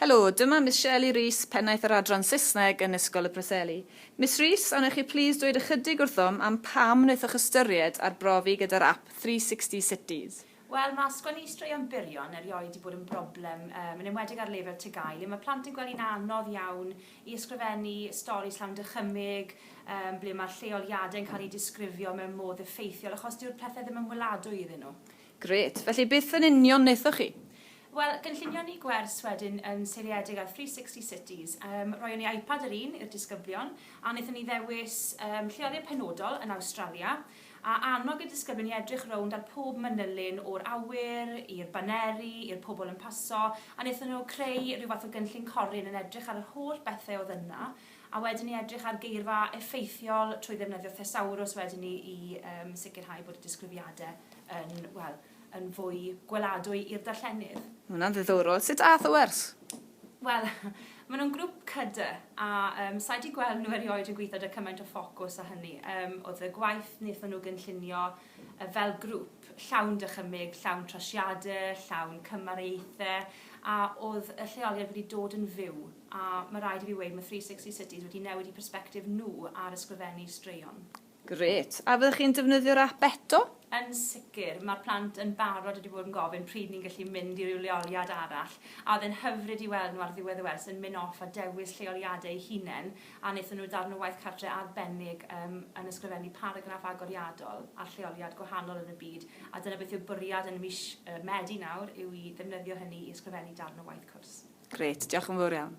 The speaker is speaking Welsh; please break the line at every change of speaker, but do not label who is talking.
Helo, dyma Miss Shirley Rees, Pennaeth yr Adran Saesneg yn Ysgol y Preseli. Miss Rees, a wnewch chi plîs dweud ychydig wrthom am pam wnaethoch ystyried arbrofi gyda'r ap 360 Cities? Wel, mae
sgwennu straeon byrion erioed 'di bod yn broblem, yn enwedig ar lefel TGAU, le mae plant yn gweld hi'n anodd iawn i ysgrifennu stori llawn dychymyg, ble mae'r lleoliadau'n cael eu disgrifio mewn modd effeithiol, achos dyw'r pethau ddim yn weladwy iddyn nhw. Grêt. Felly beth
yn union wnaethoch chi? Wel, gynllunion
ni gwers wedyn yn seiliedig ar Three Sixty Cities. Yym, roeon ni iPad yr un i'r disgyblion, a wnaethon ni ddewis yym lleoliad penodol yn Awstralia, a annog y disgyblion i edrych rownd ar pob manylyn o'r awyr, i'r baneri, i'r pobl yn paso, a wnaethon nhw creu rhyw fath o gynllun corryn yn edrych ar yr holl bethe oedd yna, A wedyn i edrych ar geirfa effeithiol trwy ddefnyddio thesaurws wedyn ni i yym sicrhau bod y disgrifiadau yn, wel, yn fwy gweladwy i'r darllenydd. Ma' hwnna'n ddiddorol.
Sut ath y wers? Wel,
maen nhw'n grŵp cydy, a um, sa'i di gweld nhw erioed yn gweithio da cymaint o ffocws a hynny. Um, oedd y gwaith wnaethon nhw gynllunio fel grŵp, llawn dychymyg, llawn trasiadau, llawn cymariaethau, a oedd y lleoliad wedi dod yn fyw. A mae rhaid i fi weud, mae Three Sixty Cities wedi newid eu persbectif nhw ar ysgrifennu straeon. Grêt. A
fyddech chi'n defnyddio'r ap eto? Yn sicr.
Mae'r plant yn barod wedi bod yn gofyn pryd ni'n gallu mynd i ryw leoliad arall, a oedd e'n hyfryd i weld nhw ar ddiwedd y wers yn mynd off a dewis lleoliadau eu hunain a wnaethon nhw darn o waith cartre arbennig yn ysgrifennu paragraff agoriadol ar lleoliad gwahanol yn y byd, a dyna beth yw'r bwriad yn mis Medi nawr, yw
i
ddefnyddio hynny
i
ysgrifennu
darn o
waith cwrs. Grêt, diolch yn
fawr
iawn.